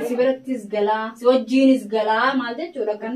Si birattis galaa, si wajjiinis galaa maal jechuudha kan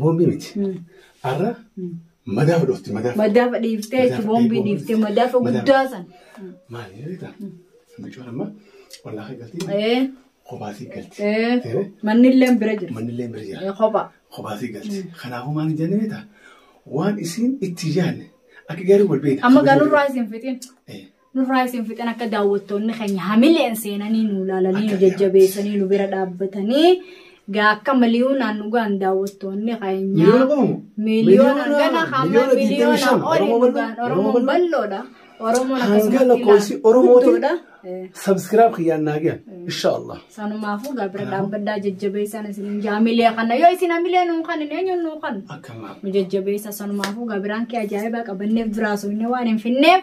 Boombii miti. Har'a madaa fudhofti madaa. Madaafa dhiiftee jechuun Madaafa boombii dhiiftee, dhiiftee madaafa madaafa. guddaa san. Maali beektaa? Bicoon amma ollaa kan galti. Eh, Kobaasii galti. eh, Eh, Manni illee bira jira. Manni illee bira jira. Eh, Kopha. Kobaasii galti. Kanaafuu maal hin jenne beektaa? Waan isiin itti yaadne akka gaarii wal beekna. Amma galurraa isin fitin. Eh, Nurraa isin fixan akka daawwattoonni keenya hamileen seenanii nu ilaalanii nu jajjabeessanii nu bira dhaabbatanii gaa akka miliyoonaan dhugaan daawwattoonni keenya miliyoona gana hamma miliyoona oli dhugaan Oromoon balloodha. Oromoon akkasumatti lakkoofsi Oromoodha. Sabskiraab kiyyaan naa gahan. Inshaallah. Sanumaafuu gaa bira dhaabbaddaa jajjabeessaan isin jaamilee kana yoo isin hamilee nuu kan hin eenyuun nuu kan nu jajjabeessa sanumaafuu gaa biraan kee ajaa'ibaa qabanneef biraa soofnee waan hin finneef.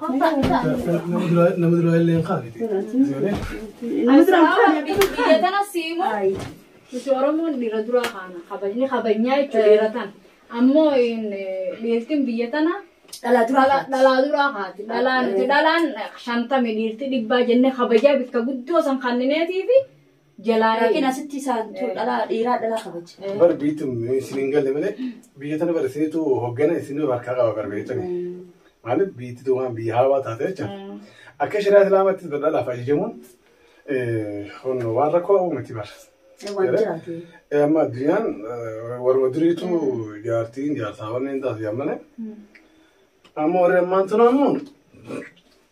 Nama duraa illee hin qaabite. Biyya tana siimu nuti Oromoon dhiira duraa kaana kabajni kabajnyaa jechuudha dhiira tana. Ammoo dhiirtiin biyya tana dhalaa duraa kaati. Dhalaa nuti dhalaan shantami dhiirti dhibbaa jennee kabajaa bikka guddoo san kannineetii fi Jalaa Laakiin hee. asitti isaan tu dhalaa dhiiraa dhalaa kabaja. Bara biyyattiin isin hin galle malee biyya tana bara isinitu hoggana isin harkaa qaba bara biyya tana. Maaliif biyyatti tu waan biyya haawaa taate jecha. Akka shari'aa islaamaatti dhalaaf ajajamuun kun waan rakkoo qabu miti bara. Waan jiraate. Eh, Amma addunyaan eh, warra duriitu jaartiin jaarsaa wanneen taasisan malee. Amma warri ammaan tun ammoo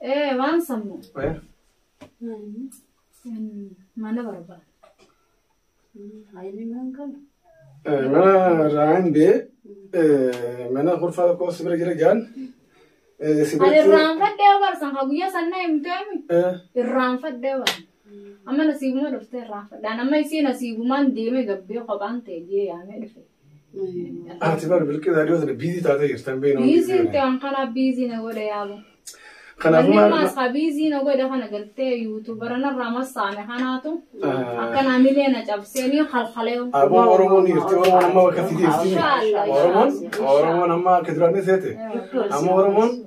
Ee waan sammu. Mana barbaada. Mana irraa hin bee mana kurfaa tokko si bira jira jaan. Ani irraanfadhee barsan ka guyyaa sanna himteemi. Irraanfadhee barsan. Amma nasiibuma dhuftee irraanfadhaan amma isiin nasiibumaan deemee gabbee kophaan ta'e jee yaamee dhufe. Ati bar bilqii zaadiyoo sana biizii taatee jirtan beekna. Biizii itti waan kanaaf biizii na godha yaabu. Kanaafuu Manni maal- maasaa biizii na godha kana galtee yuutuubara narraa massaame kanaatu akkanaa milee na cabseenii halhalee. Aboo Oromoon dhiirti Oromoon amma bakka itti dhiirti. Oromoon Oromoon amma akka duraanii seete. Amma Oromoon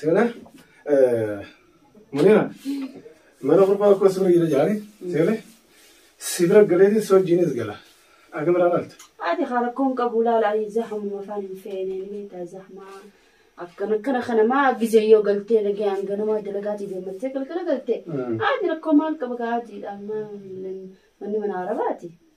Seena Munira mana gurbaa akkuma sirra jira jaani seene si bira galeetiin si wajjinis gala akka biraa laalta. Haati haa rakkoon qabu laala ani zahamuma afaan hin feene ni beektaa zahamaa akkana akkana kana maa gizee yoo galtee nagaan ganama dalagaatii deemmattee galgala galtee haati rakkoo maal qaba kaa haatiidha manni mana arabaati.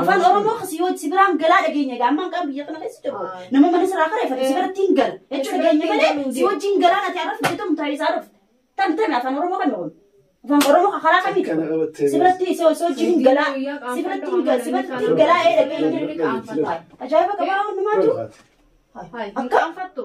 Afaan Oromoo kasi yoo si biraan galaa dhageenya egaa ammaan qaan biyya kana keessa jiru. Nama mana siraa kana ifate si biratti hin gala. Jechuun dhageenya malee si wajjin galaa nati arra fidee ta'u taa'ee isaa dhufte. Tan tan afaan Oromoo kan kun. Afaan Oromoo kan karaa kamii Kana qabattee si biratti si si wajjin hin galaa. Si biratti hin gala si biratti hin galaa ee dhageenya. Ajaa'iba qabaa hundumaatu. Akka qaanfattu.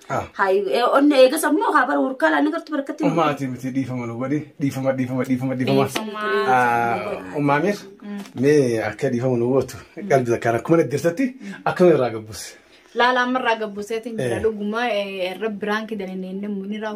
Ah. Hayi eh, onne eegas ammoo haa bara hurkaa laanne gartu barkatti. Umaati miti dhiifama nu godhi dhiifama dhiifama dhiifama dhiifama. Ah, Umaamir mee akka dhiifama nu gootu qalbii takkaan akkuma dhaggeessatti akkuma irraa gabbus. Laalaa ammarraa gabbuseetiin jira Eh. dhuguma eh, irra biraan kidanii inni munirraa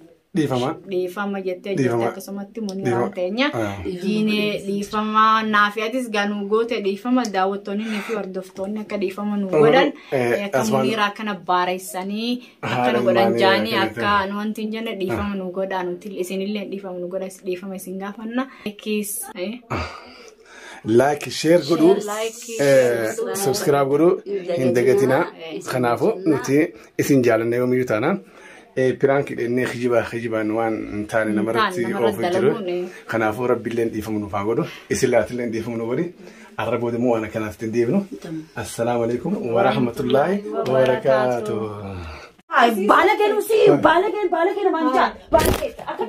Dhiifama. dhiifama jettee jirti Dhiifama. akkasumatti Dhiifama. muniraan teenya Ah. diinee dhiifama naafi atis gaa nu goote dhiifama daawwattoonni ni fi hordoftoonni akka dhiifama nu Oromoo, godhan eh, eh, akka asmaan- muniira akkana baareessanii Haala akkana godhan ilmaanii jaanii akka akka jettee. nu wanti hin jenne dhiifama nu godhaa nuti isinillee dhiifama nu godha dhiifama isin gaafanna kiis eh, Like, share godhu, Share, like, eh, share godhu. subscribe godhu hin dagatinaa. Kanaafu nuti isin jaalanne yoomiyyuu taana. Eh, Piraanki dhennee kijibaa kijibaan waan hin taane namarratti namarratti oofu hin jiru. dalaguun, eh. Kanaafuu rabbiillee dhiifama nuuf haa godhu. Isin laatillee dhiifama nu godhi. Arra booda immoo waan akkanaaf ittiin deebinu. Assalaamu alaikum wa rahmatullaahi wa barakaatuh. Ay, baala kennu si baala kennu baala kennu manjaa baala kennu.